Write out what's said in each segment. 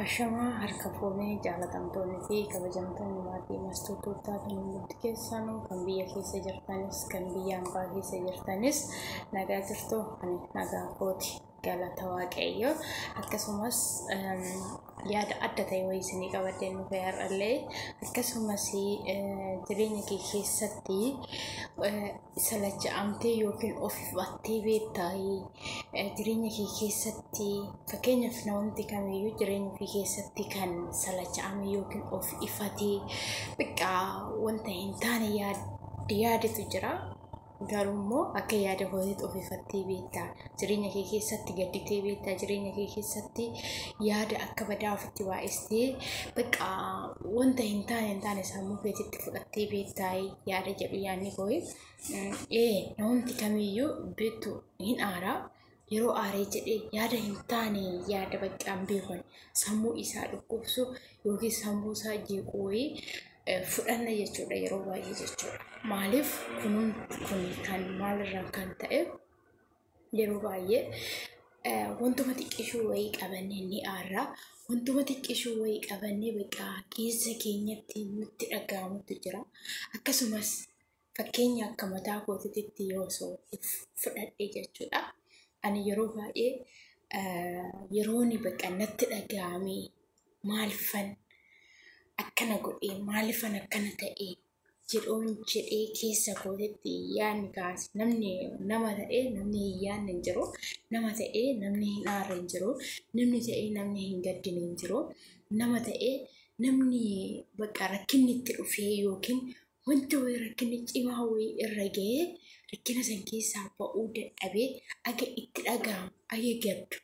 Ashamaa harka fuunee jaalatamtoonni fi kabajamtoonni maatii mastuu tuuttaa kan hundumti keessanuu kan biyya keessa jirtanis kan biyya ambaa keessa jirtanis nagaa jirtu ani nagaa kooti galata waaqayyo akkasumas yaada adda ta'e wayii isinii qabadhee nu fayyarrallee akkasumas jireenya kee keessatti salacha'amtee yookiin of battee beektaayi jireenya kee keessatti fakkeenyaaf namni kamiyyuu jireenya ofii keessatti kan salacha'ame yookiin of ifatee biqqaa wanta hin taane yaadatu jira. Garuu immoo akka yaada kootiitti of ifattee beektaa jireenya kee keessatti gadditee beektaa jireenya kee keessatti yaada akka badaa ofitti baay'istee bakka wanta hin taane hin taane sammuu keetitti fudhattee beektaa yaada jedhu yaadni koo ee namumti kamiyyuu beektu hin aaraa yeroo aaree jedhee yaada hin taane yaada baqqaan beekun sammuu isaa dhukkubsu yookiin sammuu isaa jeequ wayii eh, fudhanna jechuudha yeroo baay'ee jechuudha. Maaliif kunuun kun kan maalirraa kan ta'e Yeroo baay'ee eh, wantuma xiqqishuu wayii qabannee ni aarra. Wantuma xiqqishuu wayii qabannee bakka keessa keenyatti nutti dhaga'amutu jira. Akkasumas fakkeenya akka mataa kootiitti yoo osoo fudhadhe jechuudha. Ani yeroo baay'ee eh, yerooni bakka natti dhaga'amee maalfan akkana godhee maalifan akkana ta'ee jedhoon jedhee keessa kootitti yaadni kaase namni nama ta'ee namni hin yaadne hin jiru nama ta'ee namni hin aarre hin jiru namni ta'ee namni hin gaddine hin jiru nama ta'ee namni bakka rakkinni itti dhufee yookiin wanta wayii rakkinni cimaa wayii irra ga'ee rakkina san keessaa ba'uu dadhabee aga itti dhaga'amu aga gaddu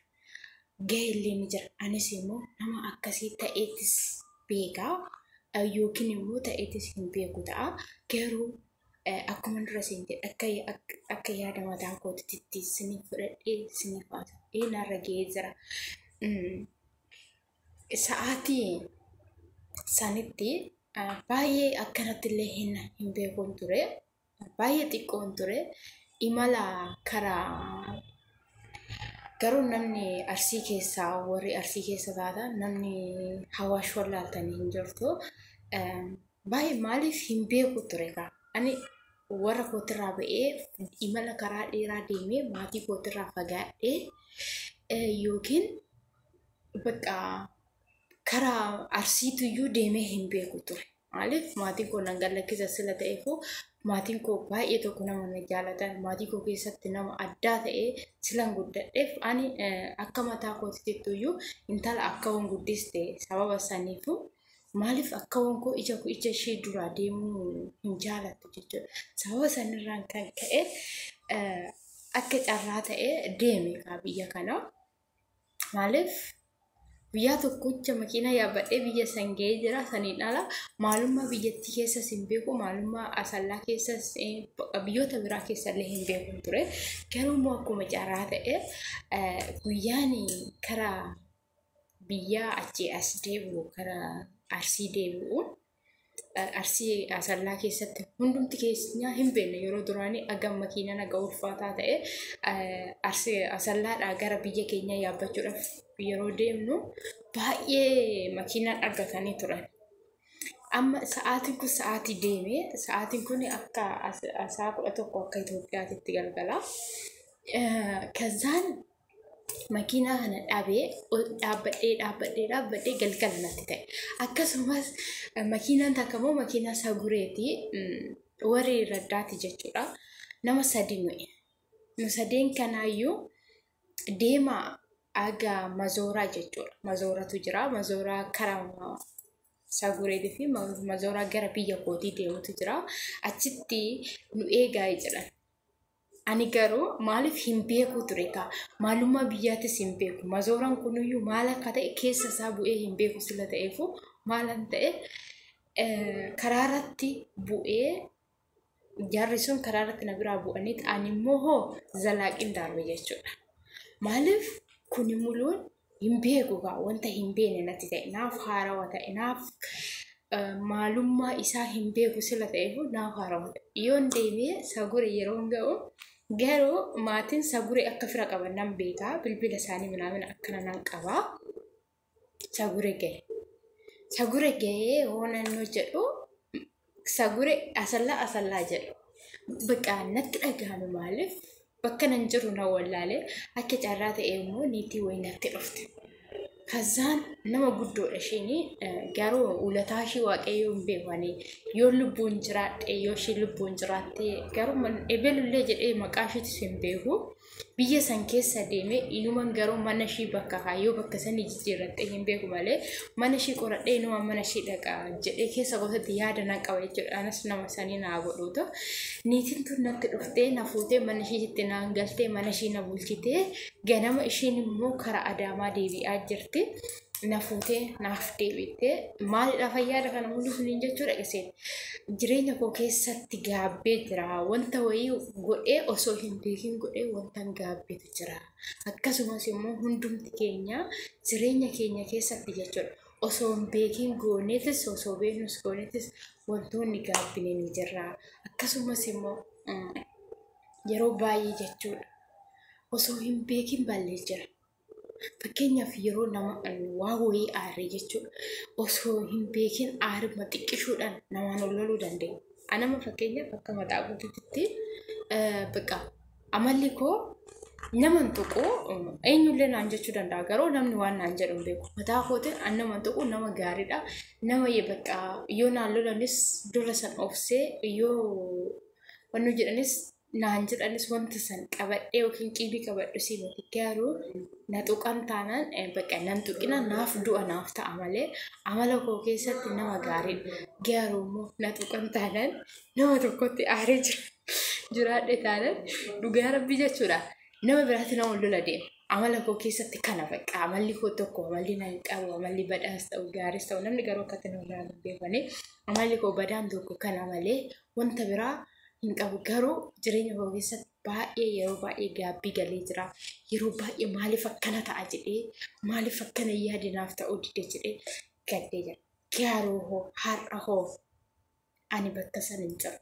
gaheellee ni jira. Anis immoo nama akkasii ta'eetis beeka yookiin immoo ta'eetis hin beeku ta'a. Garuu akkuma dura siin jedhe akka akka yaada mataa kootitti isiniif fudhadhee isiniif haa ta'u. Ee narra ga'ee jira. Sa'aatii sanitti baay'ee akkanatti illee hin hin beekun ture. baay'ee xiqqoon ture imala karaa garuu namni arsii keessaa warri arsii keessa taata namni hawaash wallaaltanii hin jirtu baay'ee maaliif hin beeku ture kaa ani warra kootirraa ba'ee imala karaa dheeraa deemee maatii kootirraa fagaadhee yookiin bakka karaa arsiituyyuu deemee hin beeku ture. Maaliif maatiin koo nan gallakkisa sila ta'eefuu maatiin koo baay'ee tokko nama na jaalatan maatii koo keessatti nama addaa ta'ee silan guddadheef ani akka mataa kootittuyyuu intala akka waan guddiste sababa saniifuu maaliif akka waan koo ija koo ija ishee duraa deemuu hin jaalattu jechuudha. Sababa sanirraan kan ka'e akka carraa ta'ee deeme biyya kanaa. Maaliif guyyaa tokkocha makiina yaabbadhee biyya san ga'ee jira saniin ala maalummaa biyyattii keessas hin beeku maalummaa asallaa keessas biyyoota biraa keessallee hin beeku ture garuu immoo akkuma carraa ta'e guyyaan karaa biyyaa achii as deebi'u karaa arsii deebi'u arsii asallaa keessatti hundumti keenyaa hin beekne yeroo duraanii agam makiinaan aga ulfaataa ta'e arsii asallaadhaa gara biyya keenyaa yaabbachuudhaaf yeroo deemnu baay'ee makiinaan argatanii turan. Amma sa'aatiin kun sa'aatii deemee sa'aatiin kun akka sa'a kudha tokko akka Itoophiyaatti galgala. Kazaan makiinaa kana dhabee dhaabbadhee dhaabbadhee dhaabbadhee galgala natti ta'e. Akkasumas makiinaan takka immoo makiinaa sagureeti warri raddaati jechuudha. Nama sadi nuyi. Nu sadeen kanaayyuu deemaa aga mazooraa jechuudha. Mazooratu jira. Mazooraa karaa sagureetii fi mazooraa gara biyya kootii deemutu jira. Achitti nu eegaa jedhan. Ani garuu maaliif hin beekuu ture kaa maalummaa biyyaatis hin beeku mazooran kunuyyuu maal akka ta'e keessa isaa bu'ee hin beeku sila ta'eefuu maalan ta'e karaa irratti bu'ee jarri sun karaa irratti na biraa bu'aniit ani immoo hoo zalaaqiin darbe jechuudha. Maaliif kuni muluun hin beeku egaa wanta hin beekne natti ta'e naaf haarawa ta'e naaf maalummaa isaa hin beeku sila ta'e immoo naaf haarawa ta'e yoon deemee sagure yeroon ga'u garuu maatiin sagure akka fira qaban nan beeka bilbila isaanii minaamin akkana nan qaba sagure ga'e sagure ga'ee hoonan hojjedhu Sagure asallaa asallaa jedha. Bakka natti dhagahame maaliif bakka nan jiru na wallaale akka carraa ta'e immoo niitii wayii natti dhufte. Kazzaan nama guddoodha isheen garuu ulataa ishee waaqayyoo hin beekani yoo lubbuun jiraadhe yoo ishee lubbuun jiraatte garuu ebelullee jedhee maqaa isheetis hin beeku. biyya san keessa deeme inuman garuu mana ishii bakka kaayyoo bakka sanii jijjiirradhee hin beeku malee mana ishii qoradhee inuman mana ishii dhaqa jedhee keessa gootatti yaada nan qaba jechuudha anas nama sanii naa godhuutu niitiin tun natti dhuftee na fuutee mana ishiitti naan galtee mana ishii na bulchitee ganama ishiin immoo karaa adaamaa deebi'aa jirti na fuutee naaf deebiittee maalidha fayyaadha kana mulli suniin jechuudha iseen jireenya koo keessatti gaabbee jira wanta wayii godhee osoo hin beekin godhee wantan gaabbetu jira akkasumas immoo hundumti keenya jireenya keenya keessatti jechuudha osoo hin beekin gooneetis osoo beeknus gooneetis wantoonni gaabbine ni jirra akkasumas immoo yeroo baay'ee jechuudha osoo hin beekin ballee jira Fakkeenyaaf yeroo nama waa wayii aarre jechuudha. Osoo hin beekin aaruma xiqqishuudhaan namaan ol loluu dandeenya. Anama fakkeenyaaf akka mataa guutuutti bakka amalli koo naman tuqu eenyullee naan jechuu danda'a garuu namni waan naan jedhu hin beeku. Mataa kootiin an naman tuqu nama gaariidha. Nama bakka yoo naan lolanis dura san obsee yoo wanni jedhanis naan jedhanis wanta san qabadhee yookiin qiibii qabadhu si miti garuu na tuqan taanaan eh, bakka nan tuqina naaf du'a naaf ta'a malee amala koo keessatti nama gaariidha garuu immoo na tuqan taanaan nama tokkotti aaree jira jiraadhe taanaan dhugaa rabbii jechuudha nama biraatti nama lola deema amala koo keessatti kana bakka amalli koo tokko amalli nan qabu amalli badhaas ta'u gaaris ta'u namni garuu akkatti na irraa hin beekne amalli koo badaan tokko kana malee wanta biraa hin qabu garuu jireenya koo keessatti baay'ee yeroo baay'ee gaabbii galee jira yeroo baay'ee maaliif akkana ta'a jedhee maaliif akkana yaade naaf ta'uu dide jedhee gaddee jira garuu hoo har'a hoo ani bakka san hin jiru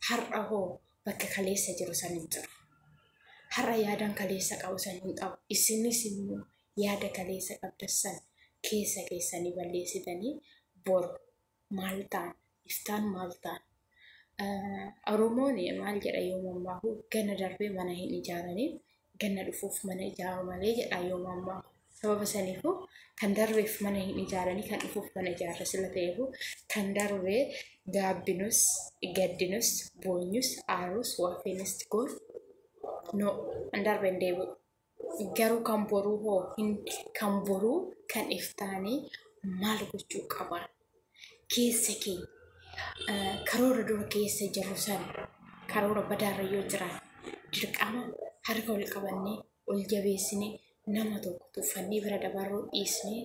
har'a hoo bakka kaleessa jiru san hin jiru har'a yaadaan kaleessa qabu san hin qabu isinis immoo yaada kaleessa qabdan san keessa keessanii balleessitanii boru maal ta'a? Iftaan maal ta'a? Oromoon maal jedha yoo mammaaku ganna darbee mana hin ijaaranii ganna dhufuuf mana ijaaru malee jedha yoo mammaaku. Sababa saniifuu kan darbeef mana hin ijaaranii kan dhufuuf mana ijaarra sila ta'eefuu kan darbee gaabbinus gaddinus boonyus aarus waafeenis goon no hin darbe hin deebi'u. Garuu kan boruu hoo hin kan boruu kan iftaanii maal gochuu qabaa? Keessa keenya eh, karoora dura keessa jirru san karoora badaarra yoo jiraate dirqama harka ol qabannee ol jabeessinee nama tokko tuffannee bira dabarruu dhiisnee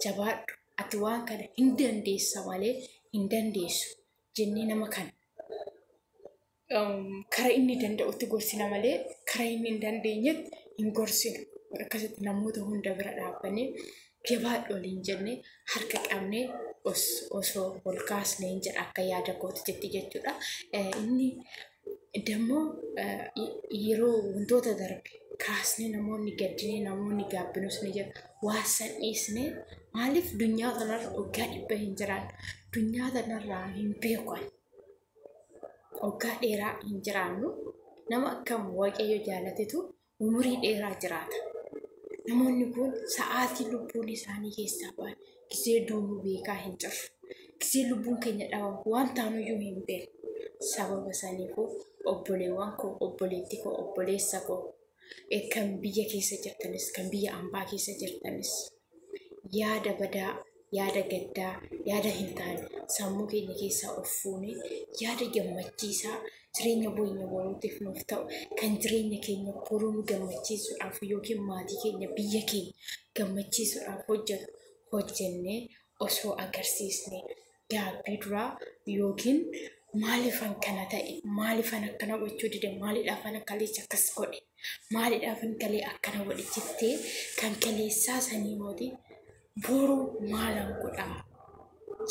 jabaadhu ati waan kana hin dandeessa malee hin dandeessu jennee nama kana kara inni danda'utti gorsina malee kara inni hin dandeenyetti hin gorsinu. Akkasitti namoota hunda bira dhaabbanee jabaadhu waliin jennee harka qabnee osoo ol kaasnee hin jedha akka yaada kooti jetti jechuudha. Inni dammoo yeroo wantoota darbe kaasnee namoonni gaddinee namoonni gaabbinuus ni jedha. Waan san dhiisnee maaliif dunyaa kanarra waggaa dhibba hin jiraannu dunyaa kanarraa hin beekan. Waggaa dheeraa hin jiraannu. Nama akkam Waaqayyo jaalatetu umurii dheeraa jiraata. Namoonni kun sa'aatii lubbuun isaanii keessaa ba'an gisee duunuu beekaa hin jirru. Gisee lubbuun keenya dhabamu waan taanuyyuu hin beeknu. Sababa saniifuu obboleewwan koo, obboleettii koo, obboleessa koo eh, kan biyya keessa jirtanis, kan biyya ambaa keessa jirtanis yaada badaa, yaada gaddaa, yaada hin taane sammuu keenya keessaa of fuunee yaada gammachiisaa jireenya keenya boruutiif nuuf ta'u kan jireenya keenya boruu nu gammachiisuudhaaf yookiin maatii keenya biyya keenya gammachiisuudhaaf hojjetu hojjennee osoo agarsiisne gaabbii duraa yookiin maalifan kana ta'e maalifan akkana gochuu dide maalidhaafan akkaleessa akkas godhe maalidhaafan kalee akkana godhe jettee kan kaleessaa sanii mooti boru maalan godhaa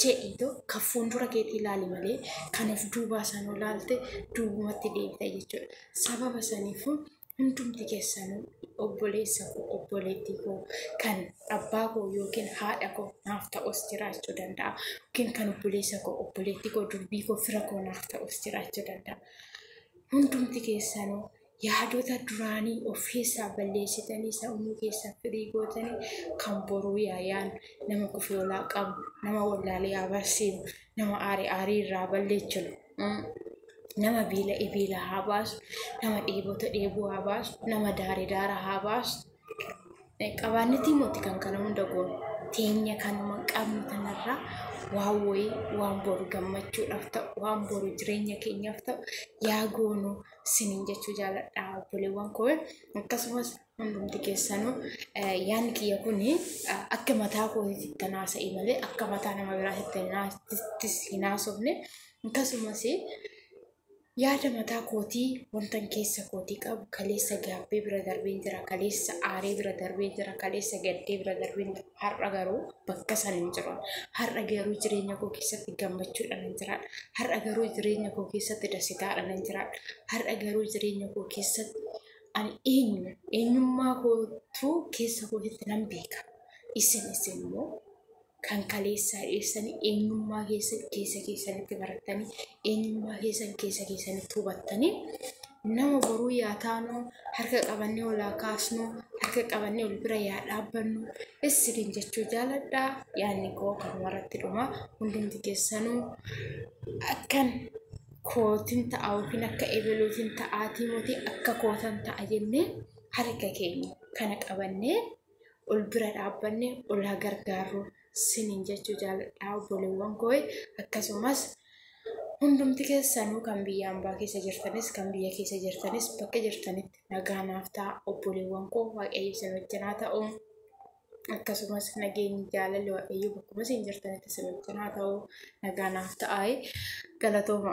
jedhiito kan fuuldura keetii ilaali malee kan of duubaa sanuu ilaalte duubumatti deebita jechuudha sababa saniifuu hundumti keessanuu obboleessa koo obboleettii koo kan abbaa koo yookiin haadha koo naaf ta'us jiraachuu danda'a yookiin kan obboleessa koo obboleettii koo durbii koo fira koo naaf ta'us jiraachuu danda'a hundumti keessanuu yaadota duraanii of keessaa balleessitanii sammuu keessaa firii gootanii kan boruu yaayaan nama kufiolaa qabu nama wallaalee abarsiinu nama aarii aarii irraa balleechinu nama biila ibiila haa baasu nama dheebota dheebuu haa baasu nama daare daara haa baasu qabaannetii mootii kan kana hunda goonu teenya kanuma qabnu kanarraa waan wayii waan boru gammachuudhaaf ta'u waan boru jireenya keenyaaf ta'u yaa goonu sinin jechuu jaaladha obboleewwan koo akkasumas Hundumti keessanuu yaanni kiyya kun akka mataa kootiitti kan haasa'e malee akka mataa nama biraattis hin haasofne akkasumas yaada mataa kootii wantan keessa kootii qabu kaleessa gaabbee bira darbeen jira kaleessa aaree bira darbeen jira kaleessa gaddee bira darbeen jira har'a garuu bakka san hin jiru har'a garuu jireenya koo keessatti gammachuudhaan hin jiraadha har'a garuu jireenya koo keessatti dasitaadhaan hin jiraadha har'a garuu jireenya koo keessatti Ani eenyu? Eenyummaa kootu keessa kootitti nan beeka. Isin isin immoo kan kaleessaa dhiyeessanii eenyummaa keessan keessa keessanitti barattanii eenyummaa keessan keessa keessanitti hubattanii nama boruu yaa taanu harka qabannee olaa kaasnu harka qabannee ol bira yaa dhaabbannu isiniin jechuu jaaladha yaanni koo kanumarratti dhuma hundumti keessanuu akkan kootin ta'a yookiin akka ebeluutin ta'aatii moti akka kootan ta'a jennee harka keenya kana qabannee ol bira dhaabbanne ol haa gargaarru sinin jechuu jaaladhaa obboleewwan koo akkasumas hundumti keessanuu kan biyya ambaa keessa jirtanis kan biyya keessa jirtanis bakka jirtanitti nagaa naaf ta'a obboleewwan koo waaqayyo isin wajjin haa ta'u akkasumas nageenyi jaalalli waaqayyo bakkuma isin jirtanitti isin wajjin haa ta'u nagaa naaf ta'aa galatooma.